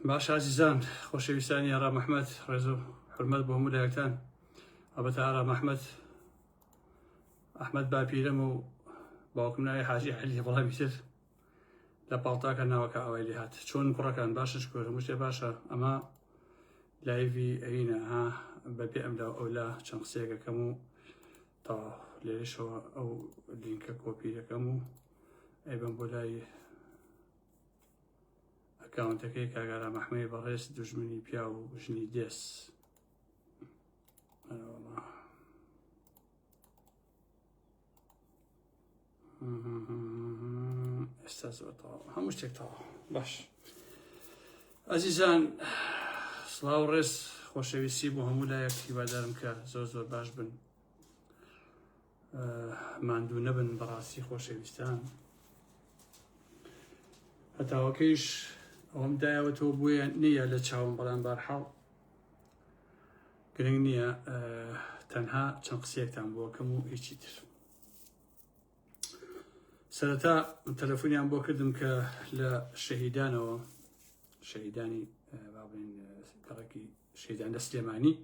باش ئازیزان خۆشەویستانی ئارا مححمد ڕێز و حرمەت بۆ هەموو لایەکان ئەبەت ئارا مححمد ئەحمد باپیرم و باوکم ناوی حاجی علی بەڵام تر لە پاڵتاکە ناوەکە ئەوای لێ هات چۆن کوڕەکان باشە شکۆر هەموو شتێ باشە ئەمە لایڤی ئەوینە ها بەبێ ئەم لە ئەو لە چەند قسەیەکەکەم و تا لێشەوە ئەو لینکە کۆپی دەکەم و ئەی بم بۆ لای ئەکاونتەکەی کاگارا مەحمەی بەڕێز دژمنی پیا و ژنی دێس ئێستا زۆرەوە هەموو شتێکەوە باش ئەزیزان سلااو ڕێز خۆشەویستی بۆ هەموو لایەک هیوادارم کە زۆر زۆر باش بن ماندوو نەبن بەڕاستی خۆشەویستان هەتاوەکەیش ئەوم دایەوە تۆ بۆیە نییە لە چاوم بەڵام بارحاڵ گرنگ نییە تەنها چەند قسێکتان بۆکەم و هیچی تر سەرەتا تەلەفۆنیان بۆ کردم کە لە شەهیدانەوە شەهیدانی بابین کەڕکی شەیدان لە سلێمانی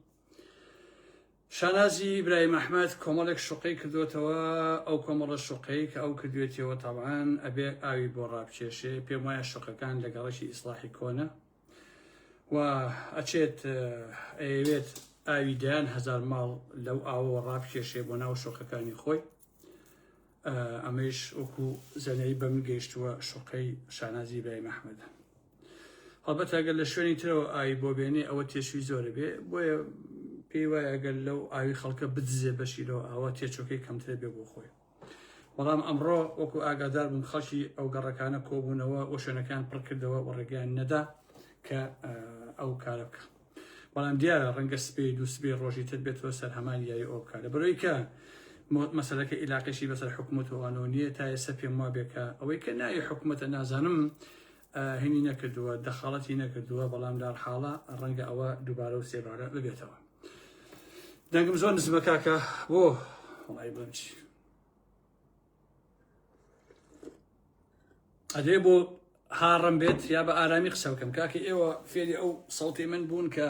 شانازی ئیبراهیم ئەحمەد کۆمەڵێک شوقەی کردوێتەوە ئەو کۆمەڵە شوقەی کە ئەو کردوێتەوە تاوان ئەبێ ئاوی بۆ ڕابچێشێ پێم وایە شوقەکان لە گەڕەکی ئیسلاحی کۆنە و ئەچێت ئەیەوێت ئاوی دەیان هەزار ماڵ لەو ئاوەوە ڕابکێشێ بۆ ناو شوقەکانی خۆی ئەمەیش وەکو زەنەی بەم گەیشتووە شوقەی شانازی برای مححمەدە هەڵبەت ئەگەر لە شوێنی ترەوە ئای بۆ بێنێ ئەوە تێشوی زۆرە بێ بۆیە پێی وایە گەل لەو ئاوی خەڵکە بدزێ بەشیرەوە ئاوا تێچۆکەی کەمترە بێ بۆ خۆی بەڵام ئەمڕۆ وەکو ئاگادار بووم خەڵکی ئەو گەڕەکانە کۆبوونەوە و شوێنەکان پڕکردەوە و ڕێگەیان نەدا کە ئەو کارە بکە بەڵام دیارە ڕەنگە سپێ دوو سبێ ڕۆژی تر بێتەوە سەر هەمان یاری ئەو بکە لە بەرۆی کە مەسلەکە ئیلاقیشی بەسەر حکوومەت وانەوە نیە تا ئێستا پێم وا بێکە ئەوەی کە ناوی حکوومەتە نازانم هینی نەکردووە دەخاڵەتی نەکردووە بەڵام دار حاڵە ڕەنگە ئەوە دووبارە و سێبارە ببێتەوە دەنگم زۆر نزمە کاکە بۆ وڵی بچی ئەدرێ بۆ هاڕم بێت یا بە ئارامی قسە بکەم کاکە ئێوە فێری ئەو سەڵتی من بوون کە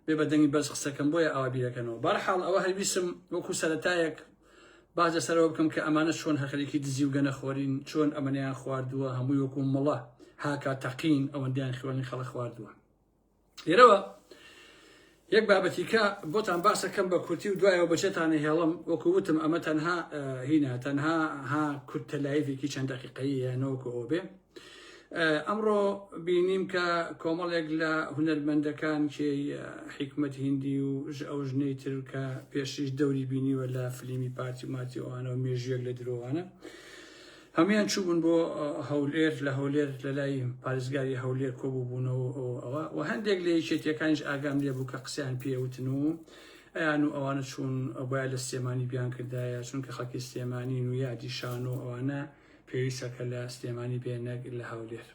بێ بەدەنگی بەس قسەکەم بۆیە ئاوا بیرەکەنەوە بەرحاڵ ئەوە هەویسم وەکو سەتایەک باز لەسەرەوە بکەم کە ئەمانە چۆن هەخەرێکی دزی و گەنەخۆرین چۆن ئەمەنیان خواردووە هەمووی وەکو مڵە هاکا تەقین ئەوەندیان خوێنی خەڵە خواردووە لێرەوە یەک بابەتی کە بۆتان باسەکەم بە کورتی و دوایەوە بەچێتانە هێڵم وەکو وتم ئەمە تەنها هینە تەنها ها کورتە لایڤێکی چەند دقیقەیە یانەوەکو ئەو بێ ئەمڕۆ بینیم کە کۆمەڵێک لە هونەرمەندەکان کێ حیکمت هندی و ئەو ژنەی تر کە پێشیش دەوری بینیوە لە فلیمی پارتی ماتیوانە و مێژوێک لە درۆوانە هەموویان چووبوون بۆ هەولێر، لە هەولێر لە لای پارێزگاری هەولێر کۆبووبوونەوە ئەوە و هەندێک لە یەکێتیەکانیش ئاگام لێ بوو کە قسەیان پێوتن و ئەیان و ئەوانە چوون بۆیان لە سلێمانی بیان کردایە چونکە خەڵکی سلێمانی و یادی شان و ئەوانە پێویستەکە لە سلێمانی بێنەک لە هەولێر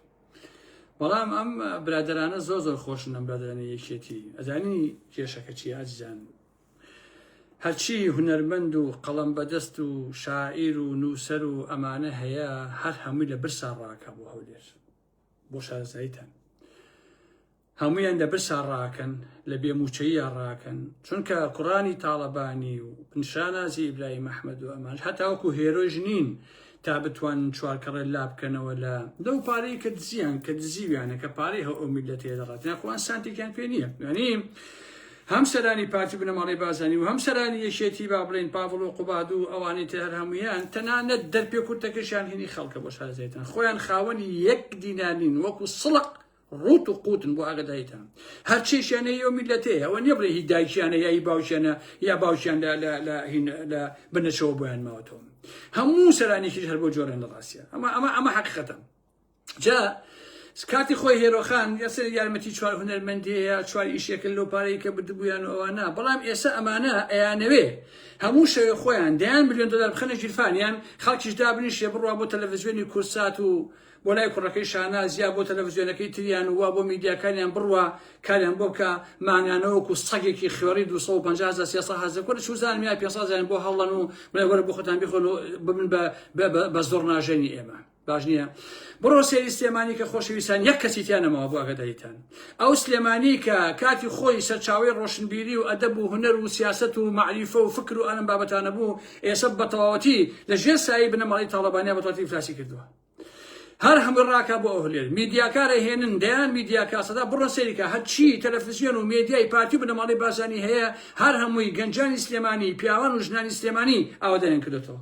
بەڵام ئەم برادرانە زۆر زۆر خۆشن ئەم برادرانە یەکێتی ئەزانی کێشەکە چی ئازیزان هەرچی هونەرمەند و قەڵەم بەدەست و شاعیر و نووسەر و ئەمانە هەیە هەر هەمووی لە برسا ڕاکە بۆ هەولێر بۆ شارەزاییتان هەمویان لە برسا ڕاکەن لە بێموچەیە ڕاکەن چونکە کوڕانی تاڵەبانی و نیشانازی ئیبراهیم ئەحمەد و ئەمان هەتاوەکو هێرۆژ نین تا بتوانن چوار کەڕێ لابکەنەوە لە لەو پارەی کە دزیان کە دزیویانە کە پارەی هەو ئەو میلەتەیە دەڕات یاخوان سانتێکیان پێ نییە یعنی هەم سەرانی پارتی بنەماڵی بازانی و هەم سەرانی یەکێتی با بڵین پاڤڵ و قوباد و ئەوانی تر هەر هەمویان تەنانەت دەرپێ کورتەکەشیان هینی خەڵکە بۆ شارەزایتان خۆیان خاوەنی یەک دینانین وەکو سڵق ڕوت و قوتن بۆ ئاگدایتان هەر چێشیانە یۆ میلەتێ ئەوە نیە بڵێ هی دایکیانە یایی باوشێنە یا باوشیان لە بنەشەوە بۆیان ماوەتەوە هەموو سەرانێکیش هەر بۆ جۆرێن لە ڕاستە ئەمە ئەمە ئەمە حەقیقەتە جا کاتی خۆی هێرۆخان یاسەر یارمەتی چوار هونەرمەندەیە چوار ئیشێکن لەو پارەی کە بدبوویان و ئەوانە بەڵام ئێستا ئەمانە ئەیانەوێ هەموو شەوێ خۆیان دەیان میلیۆن دلار بخەنە ژیرفانیان خەڵکیش دابنیشێ بڕوا بۆ تەلەڤزیۆنی کورسات و بۆ لای کوڕەکەی شاناز یا بۆ تەلەفزیۆنەکەی تریان و وا بۆ میدیاکانیان بڕوا کاریان بۆ بکە مانگانە وەکو سەگێکی خوێڕی دوو سەد و پەنجا هەزار سێ سەد هەزار کورە چوزانم یا پێنج سەد هەزاریان بۆ هەڵڵەن و بڵێ وەرە بۆ خۆتان بخۆن و ببن بە بە بە بە زۆڕناژەنی ئێمە باش نییە بڕۆ سێری سلێمانی کە خۆشەویستان یەک کەسی تیانەمەوە بۆ ئەگەدایتان ئەو سلێمانی کە کاتی خۆی سەرچاوی ڕۆشنبیری و ئەدەب و هوەر و سیاست و معریفە و فکر و ئەلم بابەتانە بوو ئێسە بەتەواوەتی لە ژێر سایی بنەماڵی تاڵەبانیا بەتواتی فلاسی کردووە هەر هەمە ڕاکە بۆ ئەهلێر میدیاکارە هێنن دەیان میدیاکاسەدا بڕە سەریکە هەرچی تەلەفزیۆن و مێدیای پارتی بنەماڵی بازانی هەیە هەر هەمووی گەنجانی سلێمانی پیاوان و ژنانی سلێمانی ئاوادەیان کردێتەوە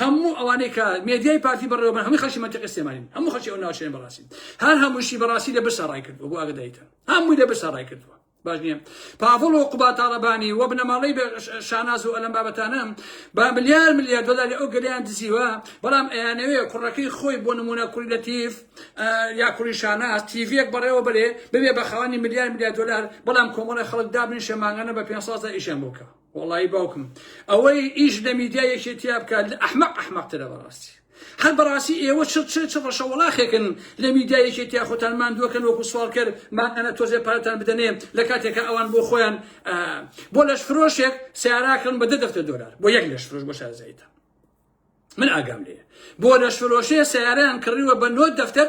هەموو ئەوانەی کە مێدیای پارتی بەڕێوەبەر هەمووی خەڵکی منتیقی سلێمانین هەموو خەڵکی ئەو ناوچەیە بەڕاستی هەر هەمووشی بەڕاستی لە برسا ڕای کردووە بۆ ئاگدایتان هەمووی لە برسا ڕای کردووە باش نییە پاڤڵ و قوباد تاڵەبانی و بنەماڵەی بە ش- شاناز و ئەلەم بابەتانە با ملیار ملیار دۆلاری ئەو گەلیان دزیوە بەڵام ئەیانەوێ کوڕەکەی خۆی بۆ نمونە کوڕی لەتیف ئە، یا کوڕی شاناز تیڤیەک بەڕێوە بەرێ ببێ بە خاوەنی ملیار ملیار دۆلار بەڵام کۆمەڵی خەڵک دابنیشێ مانگانە بە پێنج سازدا ئیشیان بۆ بکا وەڵایی باوکم ئەوەی ئیش لە میدیا یەکێتیا بکات لە ئەحمەق ئەحمەق ترە بەڕاستی هەر بەڕاستی ئێوە چ چ چ ڕەشە وەڵاخێکن لە میدیا یەکێتیا خۆتان ماندووەکەن وەکو سوالکەر مان ئەنە تۆزێ پارەتان بدەنێ لە کاتێکە ئەوان بۆ خۆیان بۆ لەش فرۆشێک سیاراکەن بە دە دەفتە دۆلار بۆ یەک لەش فرۆش بۆ شارزایتە من ئاگام لێ بۆ لەش فرۆشێ سیارەیان کڕیوە بە نۆ دەفتەر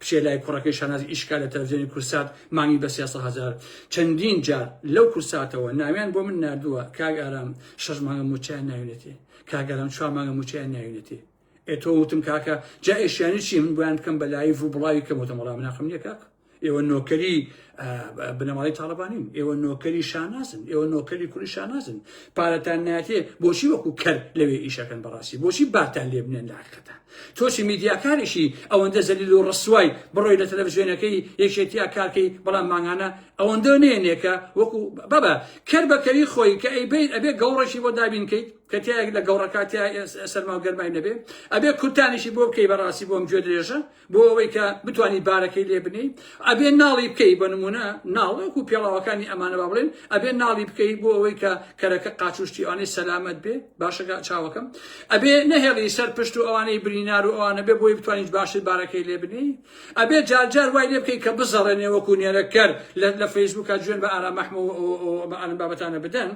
بچێ لای کوڕەکەی شانازی ئیشکا لە تەلەفزیۆنی کورسات مانگی بە سێ سەد هەزار چەندین جار لەو کورساتەوە ناویان بۆ من ناردووە کاک ئارام شەش مانگە موچەیان ناوینێتێ کاک ئارام چوار مانگە موچەیان ناوینێتێ ئێ تۆ وتم کاکە جا ئێشیانی چی من بۆیان بکەم بە لایڤ و بڵاوی کەم وتم وەڵام ناخم نییە کاک ئێوە نۆکەری بنەماڵی تاالبانین ئێوە نۆکەری شانازن ئێوە نۆکەری کوری شانازن پارەتان ناتێ بۆچی وەکو کەر لەوێ ئیشەکەن بەڕاستی بۆچی باتان لێ بنێن لاقەتە تۆچی میدیاکارێکی ئەوەندە زەلیل و ڕسوای بڕۆی لە تەلەڤزیۆنەکەی یەکێتیا کارکەی بەڵام ماگانە ئەوەندە نێنێکە وەکو بابە کەر بەکەری خۆی کە ئەی بیت ئەبێ گەوڕێکی بۆ دابینکەیت کە تایەک لە گەوڕەکاتیا سەرما و گەرمای نەبێ ئەبێ کورتانیشی بۆ بکەی بەڕاستی بۆم گوێ درێژە بۆ ئەوەی کە بتوانی بارەکەی لێ بنێی ئەبێ ناڵی بکەی بە نمونە ناڵ وەکو پێڵاوەکانی ئەمانە با بڵێن ئەبێ ناڵی بکەی بۆ ئەوەی کە کەرەکە قاچوشتی ئەوانەی سەلامەت بێ باشەکە چاوەکەم ئەبێ نەهێڵی سەر پشت و ئەوانەی برینار و ئەوانە بێ بۆی بتوانیت باشتر بارەکەی لێ بنێی ئەبێ جارجار وای لێ بکەی کە بزەڕێنێ وەکو نێرەکەر لە فەیسبوکە جوێن بە ئارام مەحمەوە بە ئارم بابەتانە بدەن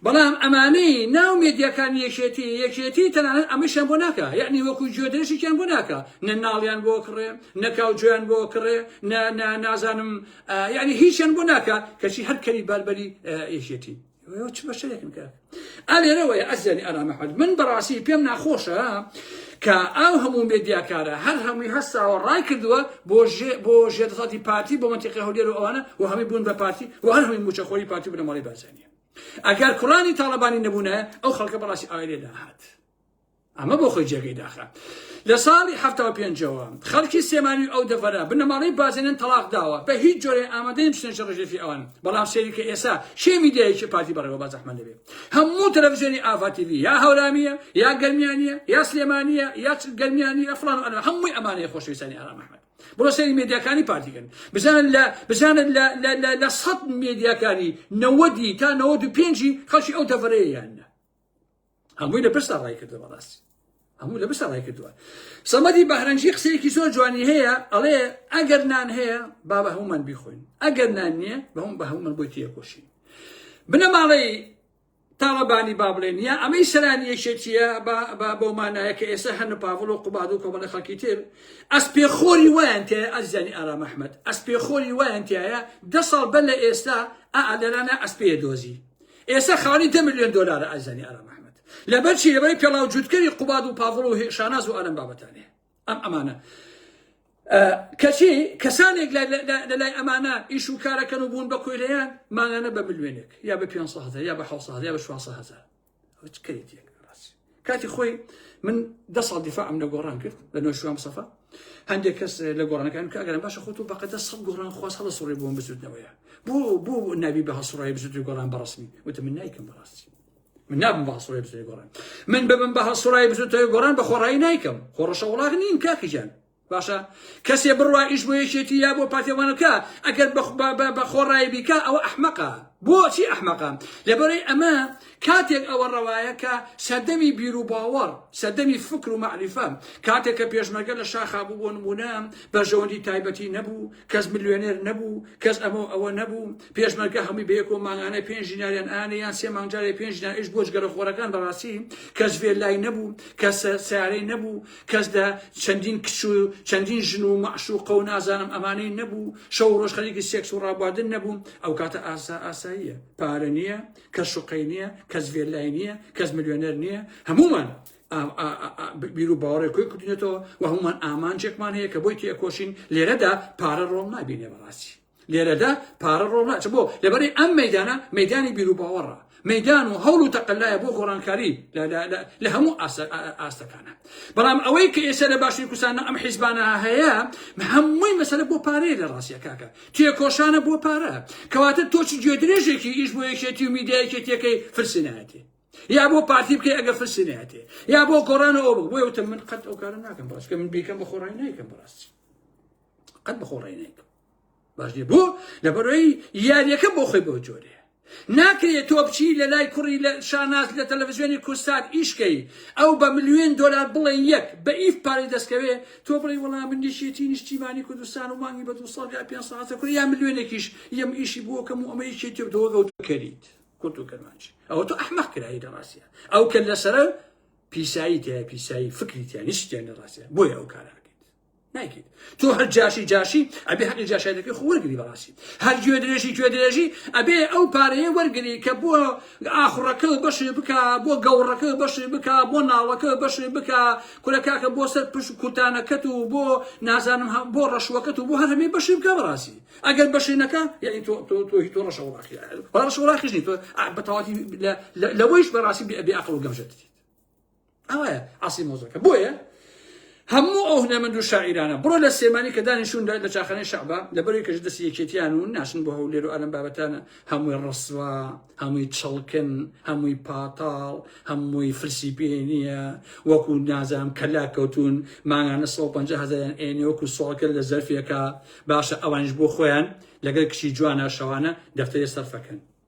بەڵام ئەمانەی ناو مێدیاکانی یەکێتی یەکێتی تەنانەت ئەمەشیان بۆ ناکا یەعنی وەکو گوێدرێژێکیان بۆ ناکا نە ناڵیان بۆ کڕێ نە کاوجۆیان بۆ کڕێ نە نە نازانم یەعنی هیچیان بۆ ناکا کەچی هەر کەری بەربەری یەکێتی چ بەشەرێکن کە ئەلێرەوەی ئەزیانی ئارام محمد من بەڕاستی پێم ناخۆشە کە ئەو هەموو مێدیاکارە هەر هەمووی هەستاوە ڕای کردووە بۆ بۆ ژێدەسەڵاتی پارتی بۆ منتیقی هەولێر و ئەوانە و هەمی بوون بە پارتی و هەر هەمی موچەخۆری پارتی بنەماڵی بارزانیە ئەگەر کوڕانی تاڵەبانی نەبوونایە ئەو خەڵکە بەڕاستی ئاوای لێ داهات ئەمە بۆ خۆی جێگەی داخە لە ساڵی ه پێنجەوە خەڵکی سێمانی ئەو دەڤەرە بنەماڵەی بازێنن تەلاق داوە بە هیچ جۆرە ئامادەی بچنە شەڕ ژێفی ئەوان بەڵام سێری کە ئێسا شێ میدیایکی پارتی بەڕێوە با زەحمە دەبێت هەموو تەلەڤزیۆنی ئاڤا تیڤی یا هەورامیە یا گەرمیانە یا سلێمانە یا گەرمیانی یا فلان ئەنا هەمووی ئەمانەیە خۆشویستانی ئارام ئەحمەد بڕۆ سەیری مێدیاکانی پارتی کەن بزانن لە بزانن لە لە لە لە سەد مێدیاکانی نەوەدی تا نەوەد و پێنجی خەڵکی ئەو دەڤەرەیە یاننا هەمووی لە پرسا ڕای کردەوە ڕاستی هەموو لە بسە ڕای کردووە سەمەدی بەهرەنجی قسەیەکی زۆر جوانی هەیە ئەڵێ ئەگەر نان هەیە با بە هەمومان بیخۆین ئەگەر نان نییە بە هەموو بە هەمومان بۆی تێکۆشین بنەماڵەی تاڵەبانی با بڵێن یا ئەمەی سەرانی یەکێتیە با بەو مانایە کە ئێستا هەن پاڤڵ و قوباد و کۆمەڵە خەڵکی تر ئەس پێخۆری وایان تێ ئەزیزانی ئارام ئەحمەد ئەس پێخۆری وایان تایە دە ساڵ بەر لە ئێستا ئەعادەرانە ئەس پێ دۆزی ئێستا خاوەنی دە میلیۆن دۆلارە ئەزیزانی ئارام ئەحمەد لەبەرچی لەبەری پێڵاو جووتکەری قوباد و پاڤڵ و شاناز و ئەلەم بابەتانێ ئەم ئەمانە کەچی کەسانێک لەلای ئەمانە ئیش و کارەکەن و بوون بە کۆیلەیان مانانە بە ملوێنێک یا بە 500 یا بە 600 یا بە 600 کەیت کاتی خۆی من دە ساڵ دیفاع ئەم لە گۆڕان کرد لە نۆ شوام سەفا هەندێک کەس لە گۆڕانەکان کە ئەگەرم باشە خۆت و بەقەدە سەد گۆڕان خواست هەڵە سوڕی بووم بزودنەوەیە بۆ بۆ ناوی بە هەسوڕای بزودی گۆڕان بەڕسمی وتە من نایکەم بەڕاستی من نابم بە هەسڕای بزوێ گۆڕان من ببم بە هەسڕای بزوتەوە گۆڕان بە خۆڕایی نایکەم خۆڕەشە وڵاغ نیم کاکیجان باشە کەسێ بڕوا ئیش بۆ یەکێتی یا بۆ پاتێوانەکە ئەگەر بە خۆڕایی بیکە ئەوە ئەحمەقە بۆچی ئەحمەقە لەبەرەی ئەمە کاتێک ئەوە ڕەوایە کە سەردەمی بیر و باوەڕ سەردەمی فکر و معریفە کاتێک کە پێشمەگە لە شاخا بوو بۆ نمونە بەژەوەندی تایبەتی نەبوو کەس ملیۆنێر نەبوو کەس ئەمە ئەوە نەبوو پێشمەرگە هەموی بەیەکەوە مانگانە پێنج دیناریان ئانێ یان سێ مانگ جارێ پێنج دینار ئیش بۆ جگەرە خۆرەکان بەڕاستی کەس ڤێلای نەبوو کەس سیارەی نەبوو کەس لە چەندین کچ و چەندین ژن و مەعشوقە و نازانم ئەمانەی نەبوو شەو ڕۆژ خەریکی سێکس و ڕابواردن نەبوو ئەو کاتە ئاسا ئاساییە پارە نییە کە شوقەی نییە کەس ڤێلای نییە کەس ملیۆنەر نییە هەمومان بیر و باوەڕێک کۆی کردینێتەوە و هەمومان ئامانجێکمان هەیە کە بۆی تێکۆشین لێرەدا پارە ڕۆڵ نابینێ بەڕاستی لێرەدا پارە ڕۆ ناچ بۆ لەبەری ئەم مەدانە مەدانی بیروباوەڕە مەدان و هەوڵ و تەقللایە بۆ گۆڕانکاری لە هەموو ئاستەکانە بەڵام ئەوەی کە ئێستا لە باشی کوسانە ئەم حیزبانە هەیە هەمووی مەسەر بۆ پارەیە لە ڕاستیەکەکە تێکۆشانە بۆ پارە کەواتە تۆچی گوێ درێژێکی ئیش بۆ یەکێتی و میدایەکێتیەکەی فرسینایەتی یا بۆ پارتی بکەی ئەگە فرسینایەتی یا بۆ گۆڕانە ئەو بۆ وتە من قەت ئەو کارە ناکەم بەڕاستکە من بیکەم بە خۆڕای نایکەم بەڕاستی قەت بە خۆڕای نایکەم باش نیە بۆ لەبەرەوەی یاریەکە بۆ خۆی بەو جۆرێ ناکرێت تۆ بچی لە لای کوڕی لە شاناز لە تەلەڤزیۆنی کوردستان ئیشکەی ئەو بە ملیۆن دلار بڵێ یەک بە ئیف پارەی دەستکەوێ تۆ بڵێ وەڵام من نیشێتی نیشتیمانی کوردستان و مانگی بە دو ساڵ یا پێ ساعتە کورە یا ملیۆنێکیش یەم ئیشی بۆ کەم و ئەمە یەکێتی و دۆگە و کەریت کورد و کەرمانج ئەوە تۆ ئەحمەق کرایی لە ڕاستە ئەو کە لەسەرە پیسایی تیا پیسایی فکری تیا نیشتیان لە ڕاستە بۆیە ئەو کارە نایکەیت تۆ هەر جاشی جاشی ئەبێ هەقی جاشایەتەکەی خۆ وەرگری بەڕاستی هەر گوێ درێژی گوێ درێژی ئەبێ ئەو پارەیە وەرگری کە بۆ ئاخڕەکە بەشێ بک بۆ گەوڕەکە بەشێ بک بۆ ناوەکە بەشێ بک کورە کاکە بۆ سەر پشت و کورتانەکەت و بۆ نازانم هەم بۆ ڕەشوەکەت و بۆ هەر هەمێ بەشی بکە بەڕاستی ئەگەر بەشێنەکە یعنی تۆ تۆ تۆ تۆ ڕەشە وڵاخی ڕەشە وڵاخیش نیت تۆ بەتەواتی لەوەیش بەڕاستی بێ ئەقڵ و گەمژەت دیت ئەوە ئاسی مۆزەکە بۆیە هەموو ئەو هونەمەند و شاعیرانە بڕۆ لە سێمانی کە دانیشون لە چاخانەی شعبە لە بەری کەش دەست یەکێتیان و ناشن بۆ هەولێر و ئەلم بابەتانە هەمووی ڕسوا هەمووی چڵکن هەمووی پاتاڵ هەمووی فرسی پێ نییە وەکو نازام کەلا کەوتون ماگانە 150 هزاریان ئێنێ وەکو سۆڵکە لە زەرفێکە باشە ئەوانش بۆ خۆیان لەگەر کچی جوانە شەوانە دەفتەرێ سەرفەکەن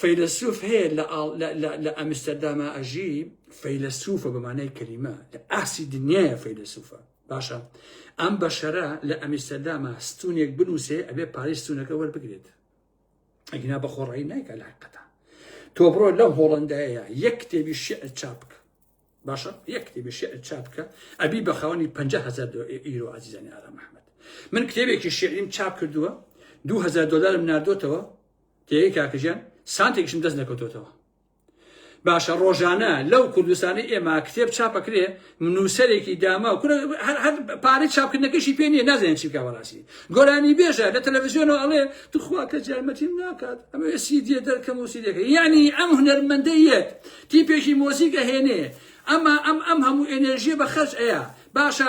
فەیلەسوف هەیە لە ئاڵ لە لە لە ئەمستەرداما ئەژی فەیلەسوفە بە مانای کەلیمە لە ئاسی دنیاە فەیلەسوفە باشە ئەم بەشەرە لە ئەمیستەرداما ستونێک بنووسێ ئەبێ پارەی ستونەکە وەربگرێت ئەگینا بە خۆڕایی نایکە لە حقەتە تۆ بڕۆ لەم هۆڵندایە یەک کتێبی شعر چاپ بکە باشە یەک کتێبی شعر چاپ بکە ئەبی بە خاوەنی 500 دۆ ئیرۆ عزیزانی ئارام محمد من کتێبێکی شعریم چاپ کردووە 2000 دلارم ناردۆتەوە تێیەی کاکە گیان سانتێکیشم دەست نەکەوتۆتەوە باشە ڕۆژانە لەو کوردستانی ئێمە کتێب چاپەکرێ نووسەرێکی داما و پارەی چاپکردنەکەشی پێ نیە نازانێت چی کاوەڕاستی گۆرانی بێژە لە تەلەڤزیۆنەوە ئەڵێ توخوا کە جارمەتیم ناکات ئەمە سیدیە دەرکەم و سیدەکە یعنی ئەم هونەرمەندەیەت تیپێکی مۆزیکە هێنێ ئەمە ئەم ئەم هەموو ئێنێژیە بە خەرج ئەیە باشە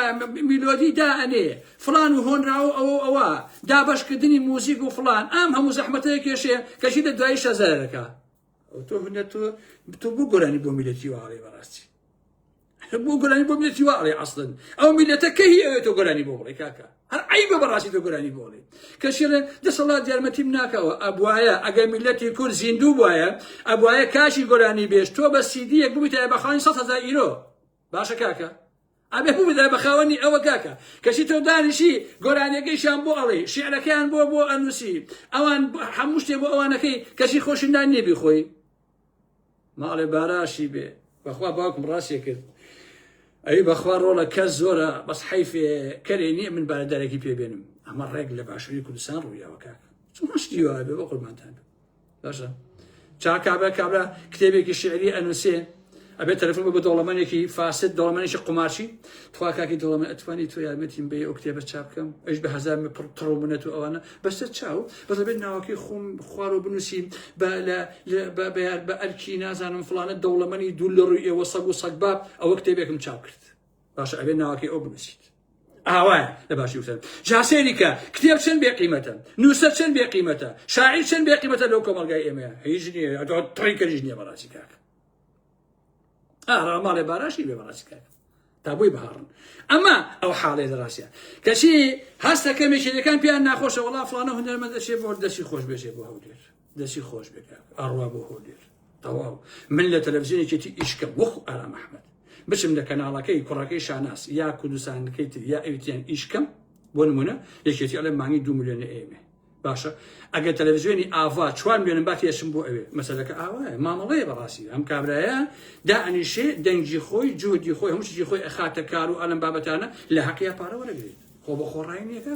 میلۆدی دا ئەنێ فڵان و هۆنراوەو ئەوەو ئەوە دابەش کردنی موزیک و فڵان ئام هەموو زەحمەتەیە کێشێ کەچی لە دوایی شەزەرەکە ئەو تۆ هونە تۆ تۆ بۆ گۆرانی بۆ میلەتی واڵێ بەڕاستی بۆ گۆرانی بۆ میلەتی واڵێ ئەسڵن ئەو میلەتە کە هی ئەوێت تۆ گۆرانی بۆ بڵێ کاکە هەر عیبە بەڕاستی تۆ گۆرانی بۆ بڵێ کەشێڵێ دەسەڵات دیارمەتیم ناکەوە ئەبواە ئەگەر میلەتی کورد زیندوو بواە ئەبواە کاشی گۆرانی بێش تۆ بە سیدیەک بوویتە بەخانی سە هزار ئیرۆ باشە کاکە ئەبێ ببدای بە خاوەنی ئەوە کاکە کەچی تۆ دانیشی گۆرانیەکەیشان بۆ ئەڵێ شعرەکەیان بۆ بۆ ئەنووسی ئەوان هەموو شتێ بۆ ئەوانەکەی کەچی خۆشندان نێبی خۆی ماڵێ باراشی بێ بەخوا باوکم ڕاستێ کرد ئەوی بەخوا ڕۆڵە کە زۆرە بەس حیفێ کەرێ نییە من بارە دەرەکی پێبێنم ئەمە ڕێک لە باشووری کوردستان ڕوویاوە کاک چ ڕشتی وابێ بە قوربانتان باشە چا کابرا کابرا کتێبێکی شعری ئەنووسێ ئەبێ تەلفۆن بە دەوڵەمەنێکی فاسد دەوڵەمەنێکی قومارچی تخوا کاکی دەوڵەمە ئەتوانی تۆ یارمەتیم بێ ئەو کتێبە چا بکەم ئەش بە هزار پڕ تڕ و منەت و ئەوانە بەسە چاو بەس بێت ناوەکەی خۆم خوار و بنووسیم بە ئەرکی نازانم فلانە دەوڵەمەنی دوو لە ڕووی ئێوە سەگ و سەگباب ئەوە کتێبێکم چاپ کرد باشە ئەبێ ناوەکەی ئەو بنووسیت ئاوایە لە باشی وسەر جاسێریکە کتێب چەند بێ قیمەتە نووسەر چەند بێ قیمەتە شاعیر چەند بێ قیمەتە لەو کۆمەلگای ئێمە هیچ نییە ئەگەڵ تڕی کەژ نییە بەڕاستی کاک ئارا ماڵێ باراشی بێ بەڕاستی کاک تا بۆی بهاڕن ئەمە ئەو حاڵێ لە ڕاستە کەچی هەستەکە مێشێنەکان پێیان ناخۆشە وڵا فلانە هونەرمەندەشێ بۆ دەستی خۆش بێژێ بۆ هەولێر دەسی خۆش بێ کاک ئاڕوا بۆ هۆلێر تەواو من لە تەلەفزیۆنێکی تی ئیشکەم وەخو ئارام ئەحمەد بچم لە کەناڵەکەی کوڕەکەی شاناس یا کوردستانەکەی تر یا ئەوتیان ئیشکەم بۆ نمونە یەکێتی ئەڵێ مانگی دو میلیۆن ئێمە باشە ئەگەر تەلەڤزیۆنی ئاوا چوار میلیۆن باتی ئەشم بۆ ئەوێ مەسەلەکە ئاوایە مامەڵەیە بەڕاستی ئەم کابرایە دا ئەنیشێ دەنگی خۆی جوهدی خۆی هەموو شتی خۆی ئەخاتە کار و ئەلم بابەتانە لە حەقیا پارە وەرەگرێت خۆ بە خۆڕایی نیەکە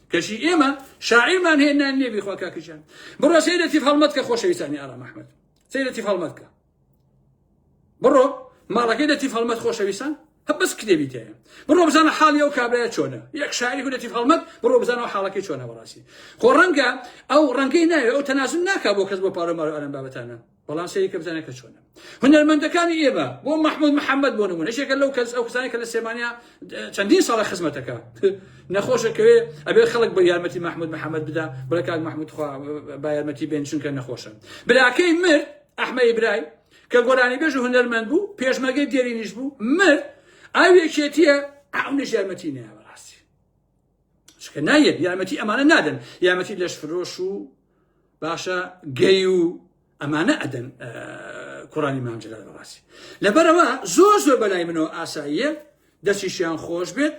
کەچی ئێمە شاعیرمان هەیە نان لێ بیخوا کاکە جان بڕۆ سەیرە تیف هەڵمەت کە خۆشەویستانی ئارام ئەحمەد سەیرە تیف هەڵمەت کە بڕۆ ماڵەکەی لە تیف هەڵمەت خۆشەویستان هە بەس کتێبی تەیە بڕۆ بزانە حاڵی ئەو کابرایە چۆنە یەک شاعری گولەتی هەڵمەت بڕۆ بزانەوە حاڵەکەی چۆنە بەڕاستی خۆ ڕەنگە ئەو ڕەنگەی ناوێ ئەو تەناسب ناکا بۆ کەس بۆ پارە مارە ئەرم بابەتانە بەڵام سەیری کە بزانە کە چۆنە هونەرمەندەکانی ئێمە بۆ مححمود محەممەد بۆ نمونە شێکە لەو کەس ئەو کەسانی کە لە سێمانیا چەندین ساڵە خزمەتەکە نەخۆشەکەوێ ئەبێ خەڵک بە یارمەتی مححمود محەممەد بدا بڵێ کاک مححمود خوا با یارمەتی بێن چونکە نەخۆشە براکەی مرد ئەحمە ئیبرای کە گۆرانی بێژ و هونەرمەند بوو پێشمەگەی دێرینیش بوو مرد ئەو یەکێتیە ئەو نەژارمەتی ناوە چکە نایەت یارمەتی ئەمانە نادەن یارمەتی لەش فرۆش و باشە گەی و ئەمانە ئەدەن کوڕانی مامجلە بەڕاستی لەبەرەوە زۆر زۆر بەلای منەوە ئاساییە دەستیشیان خۆش بێت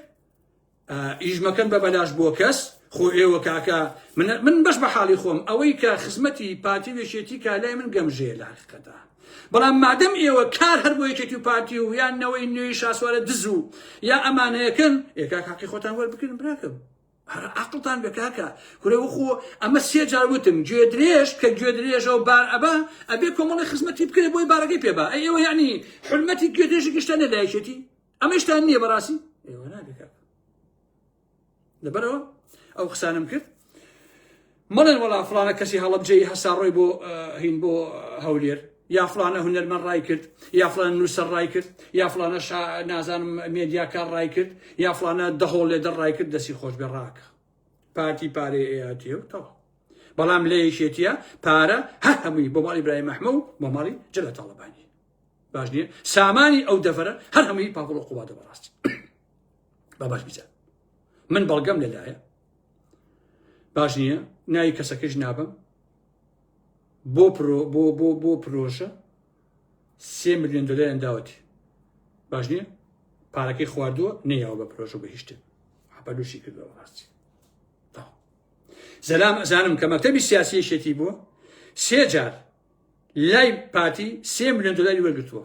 ئیژمەکەن بە بەلاش بۆ کەس خۆ ئێوە کاکە من بەش بە حاڵی خۆم ئەوەی کە خزمەتی پارتی وێشێتی کا لای من گەمژەیە لە حقیقەتە بەڵام مادەم ئێوە کار هەر بۆ یەکێتی و پارتی و یان نەوەی نوێی شاسوارە دز و یا ئەمانەیەکەن ئێکا کاقی خۆتان وەربکردن براکەم هەر عقلتان بە کاکە کورە وەخۆ ئەمە سێ جار وتم گوێ درێژ کە گوێ درێژەوە بار ئەبا ئەبێ کۆمەڵی خزمەتی بکرێت بۆی بارەکەی پێبا ئەوە یعنی حرمەتی گوێ درێژی گشتە نەدایکێتی ئەمەشتان نییە بەڕاستی لەبەرەوە ئەو قسانم کرد مەڵێن وەڵا فلانە کەسی هەڵبجەی هەسا ڕۆی بۆ هین بۆ هەولێر یا فلانە هونەرمەن ڕای کرد یا فلان نووسەر ڕای کرد یا فلانە نازانم مێدیاکار ڕای کرد یا فلانە دەهۆڵ لێ دەڕای کرد دەسی خۆش بێ ڕاکە پارتی پارەی ئەیاتیە و تەوا بەڵام لە یەکێتیە پارە هەر هەمووی بۆ ماڵی برای مەحمە و بۆ ماڵی جلە تاڵبانی باش نیە سامانی ئەو دەفرە هەر هەمووی پاپڵ و قوبادە بەڕاستی با باش بزان من بەڵگەم لەلایە باش نییە ناوی کەسەکەش نابم بۆ پرۆ بۆ بۆ بۆ پرۆژە سێ میلیۆن دلار داوەتی باش نییە پارەکەی خواردووە نەیەوە بە پرۆژە بە هیشتن حپەلوشی کردەوە ڕاستی زەلام ئەزانم کە مەکتتەبی سیاسی شێتی بووە سێ جار لای پارتی سێ میلیۆن دلاری وەرگتووە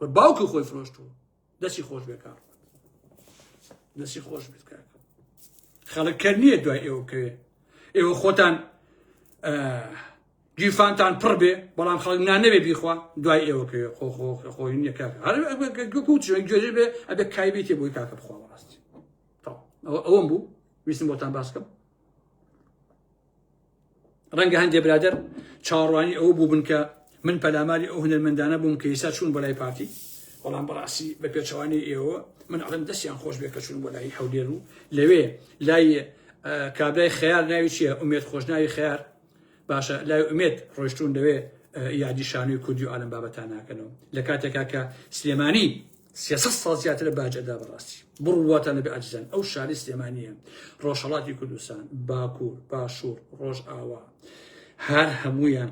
و باوکی خۆی فرۆشتووە دەستی خۆش بێ کار دەستی خۆش بێت کار خەڵک کەر نییە دوای ئێوە بکەوێ ئێوە خۆتان گیرفانتان پڕ بێ بەڵام خەڵک نانەوێ بیخوا دوای ئێوە کەوێ خۆ خۆ خۆی نییە کاک هەر کوچ گوێژێ بێ ئەبێ کایبێتێ بۆی کاکە بخوا ڕاستی ئەوەم بوو ویستم بۆتان باس بکەم ڕەنگە هەندێ برادەر چاوەڕوانی ئەوە بوو بن کە من پەلاماری ئەو هونەرمەندانە بووم کە ئیسا چوون بۆ لای پارتی بەڵام بەڕاستی بە پێچەوانەی ئێوە من ئەڵم دەستیان خۆش بێ کە چوون بۆ لای هەولێر و لەوێ لای کابرای خیار ناوی چییە ئومێت خۆشناوی خیار باشە لای ئومێت ڕۆشتون لەوێ یادی شانوی کوردی و ئالم بابەتان ناکەنەوە لە کاتێکا کە سلێمانی سێ سەد ساڵ زیاترە باج ئەدا بەڕاستی بڕواتان لەبێ ئاجزان ئەو شاری سلێمانیە ڕۆژهەڵاتی کوردستان باکوور باشوور ڕۆژ ئاوا هەر هەمویان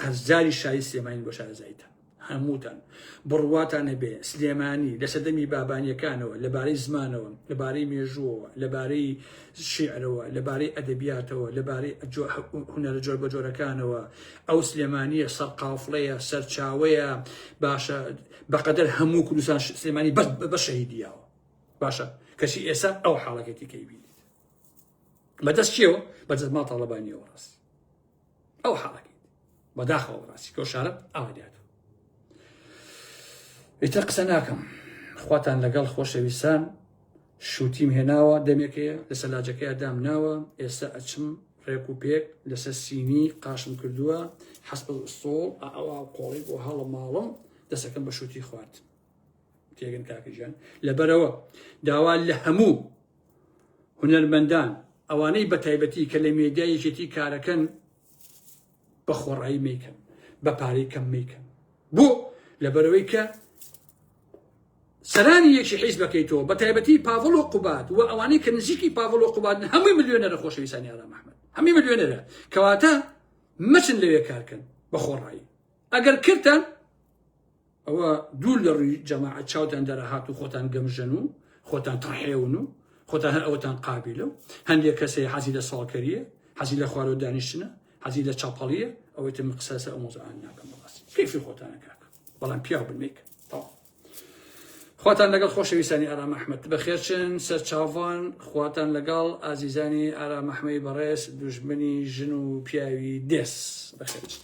قەرزاری شاری سلێمانی بۆ شارەزایتە هەمووتان بڕواتان نەبێ سلێمانی لە سەدەمی بابانیەکانەوە لەبارەی زمانەوە لەبارەی مێژووەوە لەبارەی شیعرەوە لەبارەی ئەدەبیاتەوە لەبارەی هوەرە جۆر بە جۆرەکانەوە ئەو سلێمانیە سەرقافڵەیە سەرچاوەیە باشە بەقەدەر هەموو کوردستان سلێمانی بەس بە شەهیدی یاوە باشە کەچی ئێستا ئەو حاڵەکەتی کەی بینیت بەدەست چیەوە بەدەست ما تاڵەبانیەوە ڕاستی ئەو حاڵەکەی بەداخەوە ڕاستی کە شارە ئاوادات ئیتر قسە ناکەم خواتان لەگەڵ خۆشەویستان شوتیم هێناوە دەمێکەیە لە سەلاجەکەیا دام ناوە ئێستا ئەچم ڕێک و پێک لەسەر سینی قاشم کردووە حەسب سۆڵ ئەوا قۆڵی بۆ هەڵە ماڵم دەسەکەم بە شوتی خوارد تێگەن کاکەژیان لەبەرەوە داوا لە هەموو هونەرمەندان ئەوانەی بە تایبەتی کە لە مێدیایەکێتی کارەکەن بە خۆڕایی میکەن بە پارەی کەم میکەن بۆ لەبەرەوەی کە سەرانی یەکی حیز بەکەیتەوە بە تایبەتی پاڤڵ و قوبات و ئەوانەی کە نزیکی پاڤڵ و قوباتن هەمووی ملیۆنەرە خۆشەویستانی ئارام ئەحمەد هەمووی ملیۆنەرە کەواتە مەچن لەوێ کارکەن بە خۆڕایی ئەگەر کردتان ئەوە دوور لە ڕووی جەماعەت چاوتان دەرەهات و خۆتان گەمژەن و خۆتان تڕحێون و خۆتان هەر ئەوەتان قابلە و هەندێک کەسەیە حەزی لە ساڵکەریە حەزی لە خوارەوە دانیشتنە حەزی لە چاپەڵیە ئەوەی تر من قسەسە ئەو مۆزعان ناکەم بەڕاستی کەیفی خۆتانە کاک بەڵام پیاو بن میکە تەواو خواتان لەگەڵ خۆشەویستانی ئارام ئەحمد بەخێرچن سەر چاوان خواتان لەگەڵ ئازیزانی ئارام ئەحمەی بەڕێز دوژمنی ژن و پیاوی دێس بەخێرچن